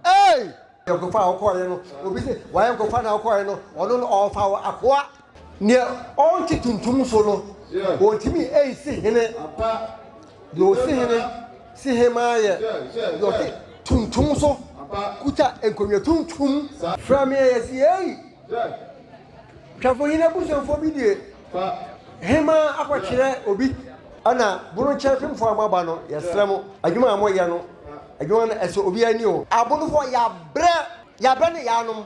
Ei! Nkurɔfo a wɔkɔɔɛ no, obi se, Wayɛ nkurɔfo a na wɔkɔɔɛ no, ɔno no ɔɔfa wɔ akoa. Neɛ ɔɔnte tuntum so no, ɔɔntumi ɛnsi hene, deɛ ɔsi hene si hemaa yɛ, deɛ ɔte tuntum so kuta nkonnwa tuntum. Frɛ me a, yɛse, Ei! Twɛfohene abusuafoɔ bi deɛ hema akɔkyerɛ obi ɛna bonokyɛ fimfoɔ a mo aba no yɛsrɛ mo adwuma a mo yɛ no adwuma no ɛsɔ obi ani o. Abonofoɔ yabrɛ yabrɛ ne yanom.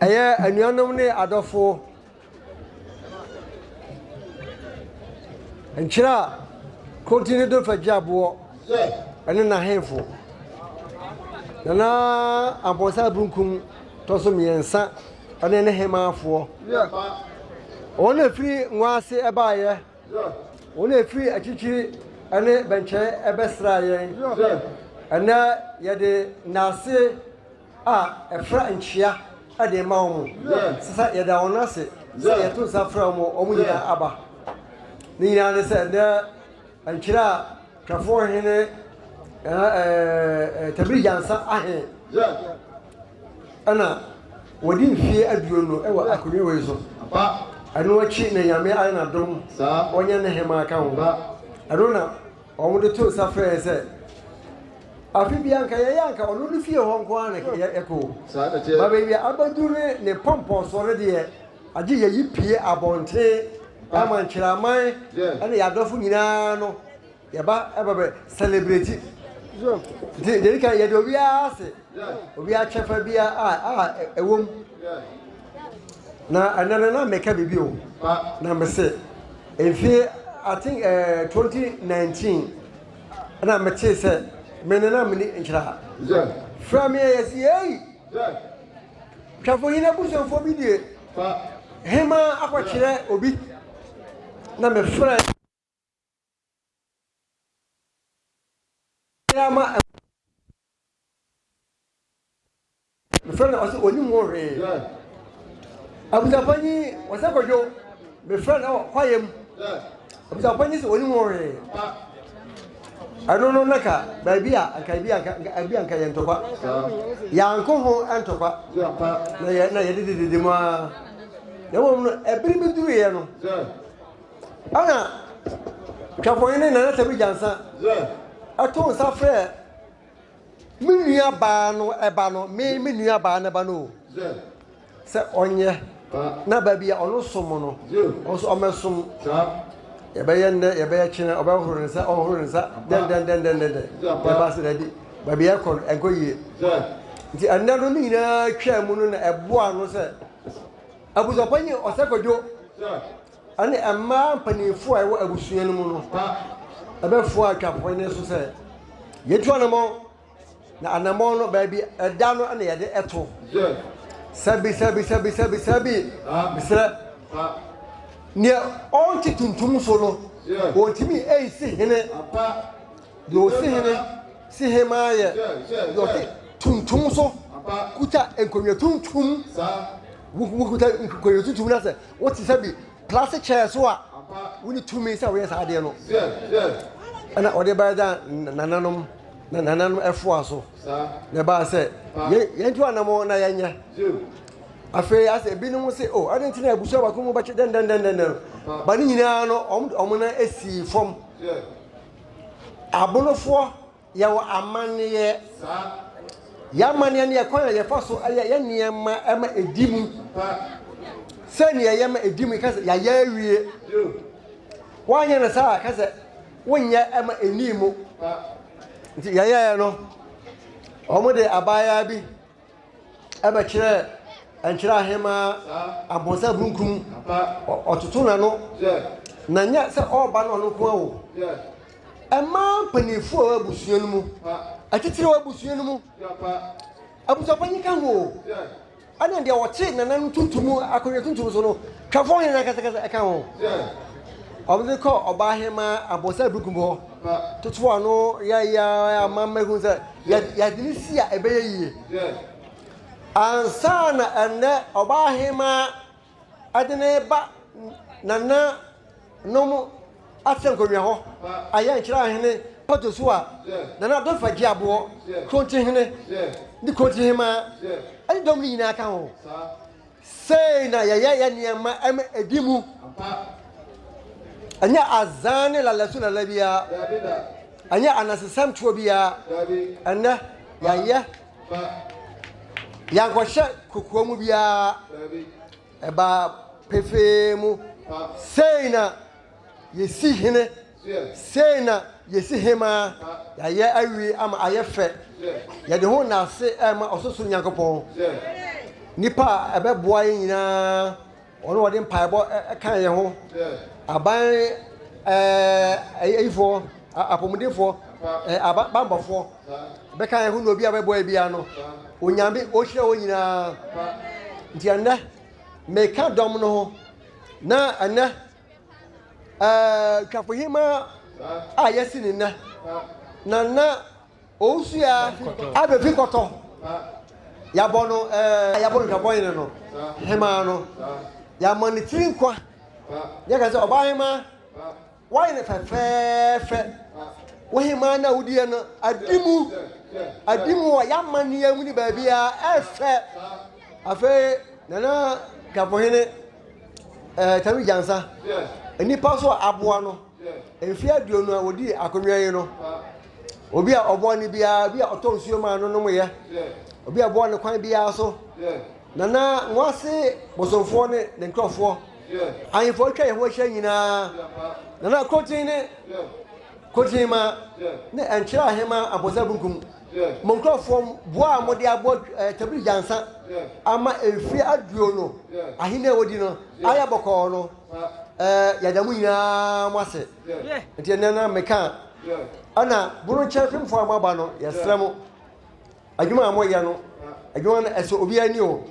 Ɛyɛ anuanom ne adɔfo nkyerɛ a Kronti ne do fa gya boɔ ɛne n'ahemfo. Nana Amponsah Abrunkum tɔ so mmiɛnsa ɛne ne hemaafoɔ. Wɔn na ɛfiri nwa ase ɛbaeɛ. Wɔn a ɛfiri akyirikyiri ne bɛnkyɛn bɛsraa yɛn. Ɛnnɛ yɛde nnase a ɛfra nkyea de rema wɔn. Sesa yɛda wɔn ase sɛ yɛto nsa frɛ wɔn a wɔn nyinaa aba. Ne nyinaa ne sɛ ɛnnɛ nkyerɛ a. Kafoɔ hene ɛɛɛɛ Tabiri Gyansa ahe ɛna wɔdi mfeɛ aduonu wɔ akonnwa wei so. Ɛno akyi na Nyame ayɛ n'adom wɔanya ne hemaa ka ho. Ɛno na wɔn de to nsa frɛɛ sɛ afe bi anka yɛyɛ anka ɔno ne fie hɔ nko ara na yɛkɔ. Ba baabi a abɛduru ne ne pɔmpɔsoɔ no deɛ. Agye yɛyi pue abɔnten ɛma nkyiraman ɛne yadɔfo nyinaa no yɛba ɛba bɛ celebrate nti deɛ ɛdika yɛde obiara ase obiara kyɛfa biara a a ɛwom na ɛnɛ no na meka biribi o na mese mfie I think uh, eh, 2019 ɛna metee sɛ mene na mene nkyira fra me ɛyɛ sɛ yɛyi Twafohene abusuafoɔ bi deɛ hemaa akɔkyerɛ obi na mefrɛ ama mefrɛ no ɔsɛ ɔnim ho hwee abusuafoɔ nyi wɔsɛ kɔdwo mefrɛ no ɔkwaeɛ mu Ɔbisa ɔpanyin sɛ onim ho hwee. Ɛno no na ka baabi a anka ebi anka ebi anka yɛ ntɔkwa. Yanko ho ntɔkwa. Na yɛ na yɛde dedede mu ara. Na wɔn no ɛbiri bi duru yɛ no. Ɛna twɛfɔnyin ne nana sɛ bi gyansa. Ɛto nsa frɛ Me nua baa no ɛba no me me nua baa no ɛba no o sɛ ɔnyɛ na ba bi a ɔno som no ɔso ɔmɛ som yɛbɛyɛ nnɛ yɛbɛyɛ kyerɛ ɔbɛhoro ne nsa ɔhoro ne nsa dɛndɛndɛndɛndɛndɛ yɛba sɛ daabi baabi ɛkɔ no ɛnkɔ yie nti ɛnnɛ no ne nyinaa twaa mu no na ɛboa no sɛ abusuapɔ nye ɔsɛ kwadwo Ɛnna mmaa mpanimfoɔ a ɛwɔ abusua no mu no bɛfoaa atwafoɔ no so sɛ, Yɛtu anammɔn, na anammɔn no, baabi ɛda no na yɛde to. Sabi, sabi, sabi, sabi, sabi, mesrɛ. Deɛ ɔnte tuntum so no, ɔntumi nsi hene. Deɛ ɔsi hene si hemaa yɛ deɛ ɔte tuntum so kuta nkonnwa tuntum. Wokuta nkonnwa tuntum no sɛ Wote sɛ bi plastic chair so a wonni tumi sɛ woyɛ saa adeɛ no. Ɛna ɔde baeɛ da nananom na nananom ɛfoa so na ɛbaa sɛ yɛntu anam na yɛnyɛ afei asɛ ebinom se o oh, ade nti na abusua baako mu bɛkye dɛndɛndɛndɛn ba ne nyinaa no ɔmo na esi fam abonofoɔ Yɛwɔ amanneɛ. Yɛn amanneɛ ne yɛn kwan a yɛfa so yɛ yɛn nneɛma ma edi mu. Sɛnea yɛyɛ ma edi mu, ka sɛ yɛayɛ awie. Woanyɛ no saa a, ka sɛ wonyɛ ma ennii mu. Nti yɛyɛɛ no. Wɔde abaayaa bi. ɛbɛkyerɛ nkyerɛ ahemaa abɔnsa burunkun ɔtoto n'ano na nyɛ sɛ ɔreba no ɔno nko ara o ɛmaa mpanyinfoɔ wɔ abusua no mu atitire wɔ abusua no mu abusuapanyin ka ho o ɛna deɛ ɔte nana no tuntum akonnwa tuntum so no twɛfoɔ nyinaa kɛsɛkɛsɛ ɛka ho wɔn de kɔ ɔbaa ahemaa abɔnsa burunkun hɔ toto ano yɛyɛ ama mɛhu sɛ. Yɛde no si a ɛbɛyɛ yie. Ansa na ɛnnɛ ɔbaahemaa ɛde no reba nana nom asɛ nkonnwa hɔ ayɛ nkyerɛ ahene pɔtɔ so a nana dɔ fa gye aboɔ kronti hene ne kronti hemaa ɛne dɔm no nyinaa ka ho Sei na yɛyɛ yɛn nneɛma ma ɛdi mu. Ɛnyɛ azan ne lala su lala biara. Ɛnyɛ anansesɛm toɔ biara. Ɛnnɛ, yɛayɛ. Yɛankɔhyɛ kokoa mu biara. Ɛbaa pefee mu. Sei na yɛsi hene. Sei na yɛsi hemaa, yɛayɛ awie ama ayɛ fɛ, yɛde ho nna ase rema ɔsorosoro Nyankopɔn. Nnipa a ɛbɛboa yɛn nyinaa, wɔn a wɔde mpaebɔ ka yɛn ho, aban ɛɛ ayifoɔ, apɔmudenfoɔ, ɛɛ bambɔfoɔ, bɛka yɛn ho na obi a bɛboa yɛn biara no, Onyame ɔhyira wɔn nyinaa. Nti ɛnnɛ, meka dɔm no ho, na ɛnnɛ Ɛɛ, Twafohemaa a yɛasi ne nna, Nana Owusuya Abefi Kɔtɔ. Yɛabɔ no ɛɛ, a yɛabɔ no Twabɔhene no, Hemaa no. Yɛama ne tiri nkwa. Yɛka sɛ, Ɔbaahemaa, woayɛ no fɛfɛɛfɛ. Wo hemaa no a wodiiɛ no, adi mu. Adi mu wɔ yɛn amanneɛ mu ne baabiara. Ɛyɛ fɛ. Afei Nana Dafohene Tami Gyansah, nnipa so a aboa no mfeɛ aduonu a ɔdi akonnwa yi no, obi a ɔboa no biara, obi a ɔtɔ nsuo maa no nomyɛ, obi a ɔboa no kwan biara so, Nana Nwase Bosomfoɔ ne ne nkurɔfoɔ, ahemfo a wɔatwa yɛn ho ahyia nyinaa, Nana Krotin ne Krotinmaa ne Nkyere Ahemaa Amponsah Bunkum. mo nkurɔfoɔ boɔ a mode abɔ tabiri gyansa ama mfeɛ aduonu ahenni a wɔdi no ayɛ bɔkɔɔ no, yɛda mo nyinaa mo ase. Nti ɛnɛ na meka ɛna bono kyɛn fimfoɔ a moaba no yɛsrɛ mo adwuma a moyɛ no adwuma no ɛsɛ obi ani o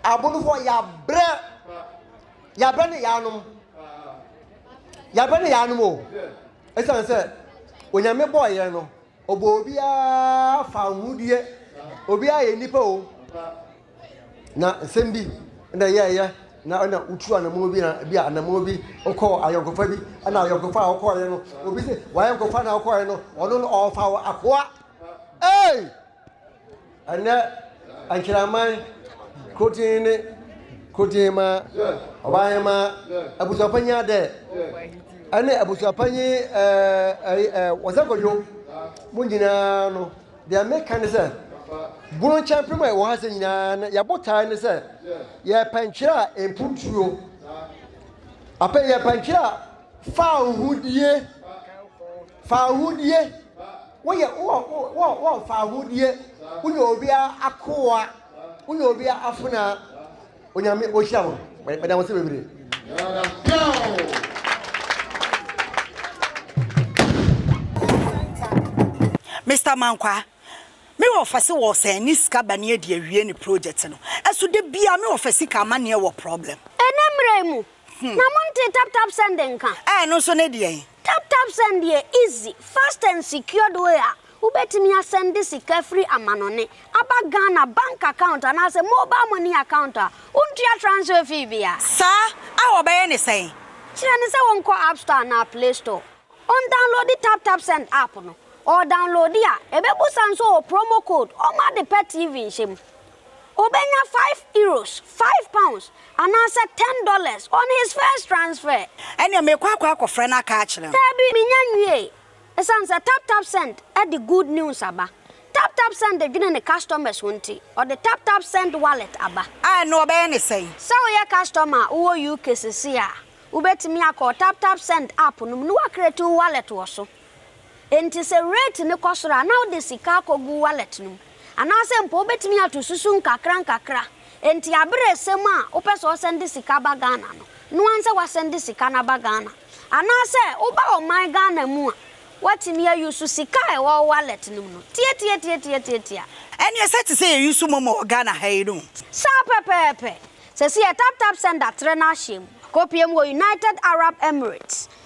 abonofoɔ yɛabrɛ yɛabrɛ ne yɛanom yɛabrɛ ne yɛanom o ɛsiane sɛ onyame bɔɔ yɛn no Ɔbɔɔ obiara fa ahuhudeɛ, obiara yɛ nipa o. Na nsɛm bi na yɛɛyɛ na ɛna wotu anamɔ bi na bi anamɔ bi wokɔɔ ayɔnkofa bi ɛna ayɔnkofa a wokɔɔyɛ no obi sɛ wayɔnkofa na wokɔɔyɛ no ɔno no ɔɔfa wɔ akoa ee. Ɛnnɛ, Ankyeramman Korotsenn ne Korotsenmmaa Ɔbaahenmmaa Abusuapanyin Adɛ ne Abusuapanyin Wɔsɛ Kwadwo mu nyinaa no, deɛ meka ne sɛ, Bunu Nkyɛmpem a ɛwɔ ha sɛ nyinaa no, yɛn botae ne sɛ yɛrepɛ ntwerɛ a ɛmpu tuo, yɛrepɛ ntwerɛ a fa ahuhudie, Fawohodie, woyɛ wowɔ fawohodie, woyɛ obia akoa, woyɛ obia afenaa, Onyame ohyira wo, meda wose bebree. Mister Mankwaa, me wɔfa se wɔ sɛn ne sika bane adi awie ne project no, ɛso da biaa me wɔfa sika amaneɛ wɔ problem. Ɛnɛ mmerɛ yi mu na mo ntee tap tap send nka. Ɛɛ ɛno nso ne deɛn? Tap Tap Send yɛ easy, fast and secured way a wobɛtumi asɛnde sika firi amanɔne aba Ghana bank account anaasɛ mobile money account a wontua transfer fee bia. Saa a wɔbɛyɛ ne sɛn? Kyerɛ no sɛ wɔnkɔ App Store anaa Play Store, ɔndownloadi Tap Tap Send app no, ɔredownloadi a, ɛbɛbusa nso wɔ promo code, ɔmma ade pa TV nhyɛ mu, Obenya five euros, five pounds, anaasɛ ten dollars on his first transfer. Ɛnneɛ merekɔ akɔ akɔfrɛ no aka akyerɛ no. Daabi, mennya nwiee. Esiane sɛ TapTapSend de good news aba, TapTapSend dwene ne customers ho nti, ɔde TapTapSend Wallet aba. A, ɛnneɛ wɔbɛyɛ no sɛn? Sɛ woyɛ customer a wowɔ UK seesei a, wobɛtumi akɔ TapTapSend app no mu na woacreate wo wallet wɔ so. Enti sɛ rate no kɔ soro a, na wode sika akɔgu wallet no mu. Anaasɛ mpo wobɛtumi ato susu nkakrankakra. Enti aberɛ ɛsɛ mu a wopɛ sɛ ɔsɛnde sika ba Ghana no, no ara nsɛ woasɛnde sika no aba Ghana. Anaasɛ woba ɔman Ghana mu a, woatumi a use sika a ɛwɔ wo wallet no mu no. Tiatiatiatiatiatia. Ɛneɛ sɛ te sɛ yɛ use momo wɔ Ghana ha yi no. Saa pɛpɛɛpɛ. Seesei yɛ taptapsend atrɛ no ahyɛ mu. Akɔpue mu wɔ United Arab Emirates.